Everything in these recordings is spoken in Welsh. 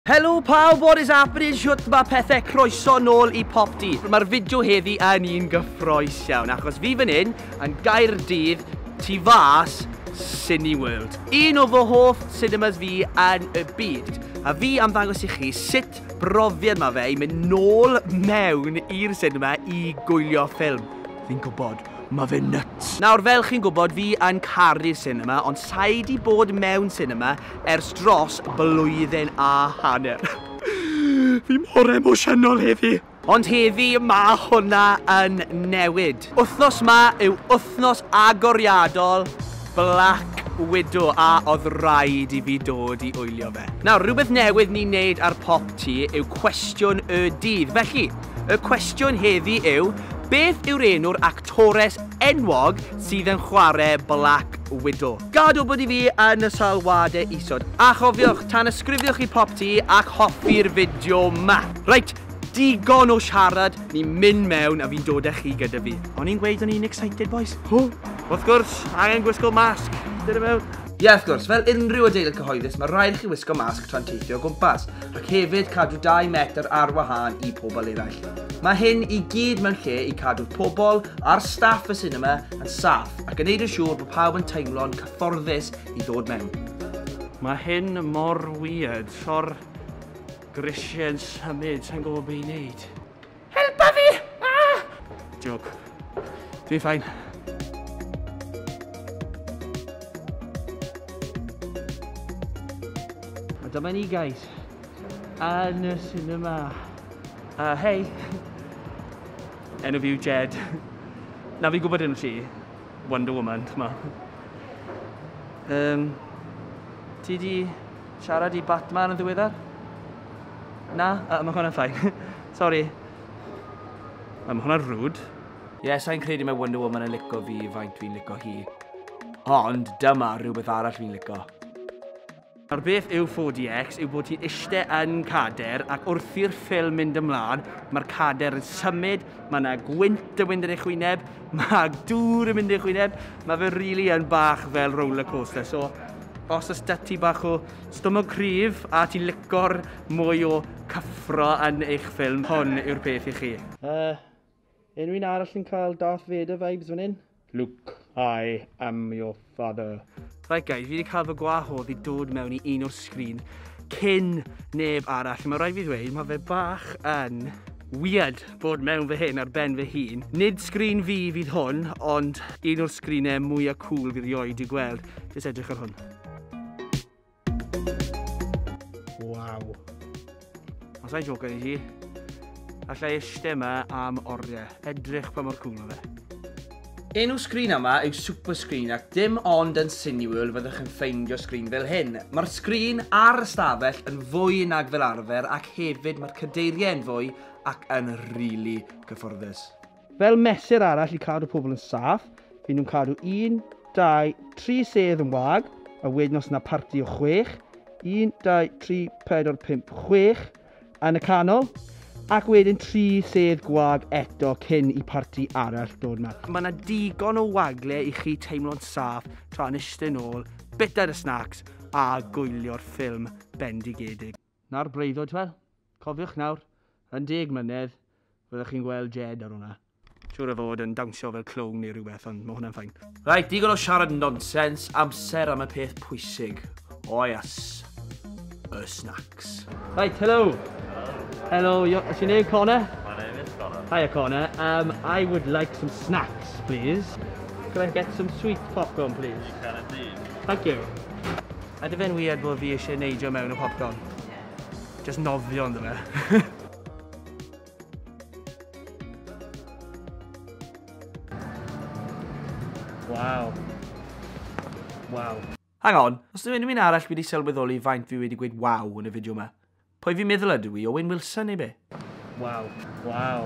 Helo pawb, what is happening, shwt ma pethe, croeso nôl i Pop Di. Mae'r fideo heddi yn un gyffroes iawn, achos fi fan hyn yn Gaerdydd tu fas Cineworld, un o fy hoff cinemas fi yn y byd. A fi am ddangos i chi sut brofiad mae fe i mynd nôl mewn i'r cinema i gwylio ffilm. Fi'n gwybod, mae fe nuts. Nawr, fel chi'n gwybod, fi yn caru'r cinema, ond sa'i di bod mewn cinema ers dros blwyddyn a hanner. Fi mor emosiynol heddi! Ond heddi mae hwnna yn newid. Wythnos ma yw wythnos agoriadol Black Widow a oedd rhaid i fi dod i wylio fe. Nawr, rhywbeth newydd ni'n neud ar Pop Ti yw cwestiwn y dydd. Felly, y cwestiwn heddi yw, beth yw'r enw'r actores enwog sydd yn chwarae Black Widow? Gad wybod i fi yn y sylwadau isod. A chofiwch, tanysgrifiwch i Popty ac hoffi'r fideo 'ma! Reit, digon o siarad, ni'n mynd mewn a fi'n dod â chi gyda fi. O'n i'n gweud o'n i'n excited, bois? Hw! Wrth gwrs, angen gwisgo masg. Dod i mewn. Ie, wrth gwrs, fel unrhyw adeilad cyhoeddus mae rhaid i chi wisgo masg tra'n teithio o gwmpas, ac hefyd cadw dau metr ar wahân i pobl eraill. Mae hyn i gyd mewn lle i cadw'r pobl a'r staff y sinema yn saff. ac yn neud yn siŵr bod pawb yn teimlo'n cyfforddus i ddod mewn. Mae hyn mor weird, sio'r grisiau yn symud, sa'n gwybod beth i wneud. Helpa fi! Ah! Joke. Dwi'n ffain. A dyma ni guys, yn y cinema. Uh, hei! Enw fi yw Jed. Na fi'n gwybod enw ti. Wonder Woman, t'mo. Yym, ti 'di siarad i Batman yn ddiweddar? Na? Yy, ma' hwnna'n ffain. Sori. Wel, ma' hwnna'n rude. Ie, sai'n credu mae Wonder Woman yn lico fi faint fi'n lico hi. Ond dyma rhywbeth arall fi'n lico. Nawr beth yw 4DX yw bod ti'n ishte yn cader ac wrth i'r ffilm mynd ymlaen, mae'r cader yn symud, mae yna gwynt yn mynd yn eich wyneb, mae dŵr yn mynd yn eich wyneb, mae fe rili really yn bach fel roller coaster. So, os oes da ti bach o stomog cryf a ti'n licor mwy o cyffro yn eich ffilm, hwn yw'r peth i chi. Uh, Unrhyw un arall yn cael Darth Vader vibes fan hyn? Luke, I am your father. Right guys, fi wedi cael fy gwahodd i dod mewn i un o'r sgrin cyn neb arall. Mae rhaid fi ddweud, mae fe bach yn weird bod mewn fy hyn ar ben fy hun. Nid sgrin fi fydd hwn, ond un o'r sgrinau mwyaf cool fi rioed i gweld. Jyst edrych ar hwn. Waw. Os a'i joker i chi, allai eisiau yma am oriau. Edrych pa mor cool o fe. Enw sgrin yma yw Super Screen ac dim ond yn Cineworld fyddwch chi'n ffeindio sgrin fel hyn. Mae'r sgrin ar ystafell yn fwy nag fel arfer ac hefyd mae'r cadeiriau yn fwy ac yn rili really cyfforddus. Fel mesur arall i cadw pobl yn saff, fy nhw'n cadw un, dau, tri sedd yn wag, a wedyn os yna parti o chwech, un, dau, tri, pedwar, pump, chwech, yn y canol, ac wedyn tri sedd gwag eto cyn i parti arall dod mas. Mae yna digon o wagle i chi teimlo'n saff tra'n eistedd nôl, bita dy snacs a gwylio'r ffilm bendigedig. Na'r breuddwyd, wel, cofiwch nawr, yn deg mlynedd, fyddwch chi'n gweld Jed ar hwnna. Siŵr o fod yn dawnsio fel clown neu rhywbeth, ond mae hwnna'n ffain. Reit, digon o siarad nonsens, amser am y peth pwysig. O ias. Y snacks. Reit, helo! Helo, is your name Connor? My name is Connor. Hiya Connor, um, I would like some snacks, please. Can I get some sweet popcorn, please? You can indeed. Thank you. Ydy fe'n weird bod fi eisiau neidio mewn y popcorn? Just nofio ynddo fe. wow. Wow. Hang on, os dwi unrhyw un arall wedi sylweddoli faint fi wedi gweud wow yn y fideo yma. Pwy fi'n meddwl ydw i, Owen Wilson neu be? Wow. Wow.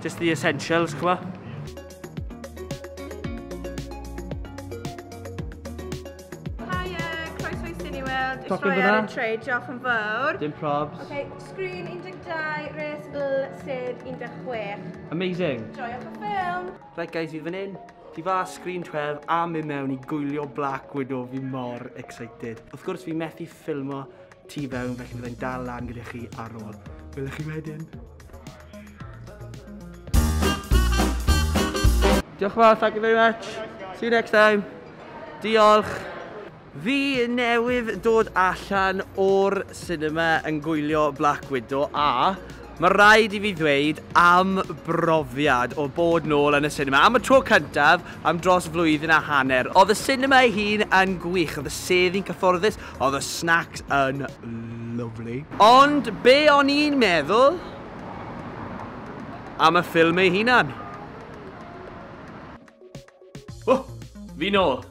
Just the essentials, chwa. Top yn fyna? Trey, diolch yn fawr. Dim probs. Okay, screen 12, res bl, sef 16. Amazing. Joiwch y ffilm. Right guys, fi fan hyn. Fi fa screen 12 a mi mewn i gwylio Black Widow fi mor excited. Wrth gwrs fi methu ffilmo tu fewn felly byddai'n dal lan gyda chi ar ôl. Wylech chi wedyn. Diolch yn fawr, thank you very much. See you next time. Diolch. Fi newydd dod allan o'r cinema yn gwylio Black Widow a mae rhaid i fi ddweud am brofiad o bod nôl yn y cinema. Am y tro cyntaf, am dros flwyddyn a hanner. Oedd y cinema ei hun yn gwych, oedd y sedd i'n cyfforddus, Oedd y snacks yn lovely. Ond be o'n i'n meddwl am y ffilm ei hunan? Oh, fi nôl!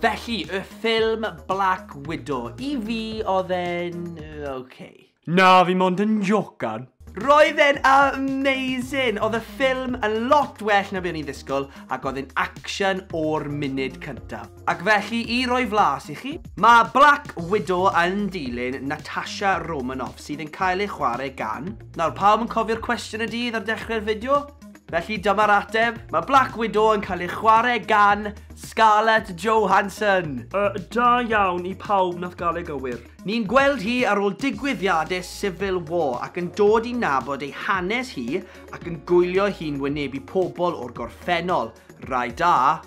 Felly, y ffilm Black Widow. I fi, oedd e'n... OK. Na, fi mond yn jocan. Roedd e'n amazing! Oedd y ffilm yn lot well na be o'n i'n ddisgwyl ac oedd e'n action o'r munud cyntaf. Ac felly, i roi flas i chi, mae Black Widow yn dilyn Natasha Romanoff sydd yn cael ei chwarae gan... Nawr, pawb yn cofio'r cwestiwn y dydd ar dechrau'r fideo? Felly dyma'r ateb, mae Black Widow yn cael ei chwarae gan Scarlett Johansson! Uh, da iawn i pawb nath gael ei gywir. Ni'n gweld hi ar ôl digwyddiadau Civil War ac yn dod i nabod ei hanes hi ac yn gwylio hi'n wynebu pobl o'r gorffennol, rai da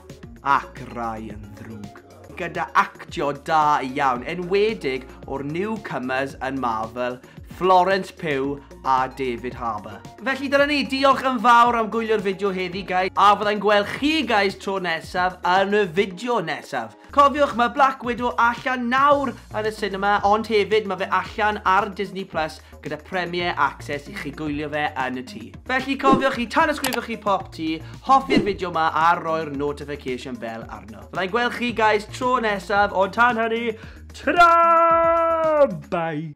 ac rai yn ddrwg. gyda actio da iawn, enwedig o'r newcomers yn Marvel, Florence Pugh a David Harbour. Felly dyna ni, diolch yn fawr am gwylio'r fideo heddi guys, a fyddai'n gweld chi guys tro nesaf yn y fideo nesaf. Cofiwch, mae Black Widow allan nawr yn y sinema, ond hefyd mae fe allan ar Disney Plus gyda premiere access i chi gwylio fe yn y tŷ. Felly cofiwch i tanysgrifio chi pop tŷ, hoffi'r fideo ma a roi'r notification bell arno. Fyddai'n gweld chi guys tro nesaf, ond tan hynny, ta-ra! Bye!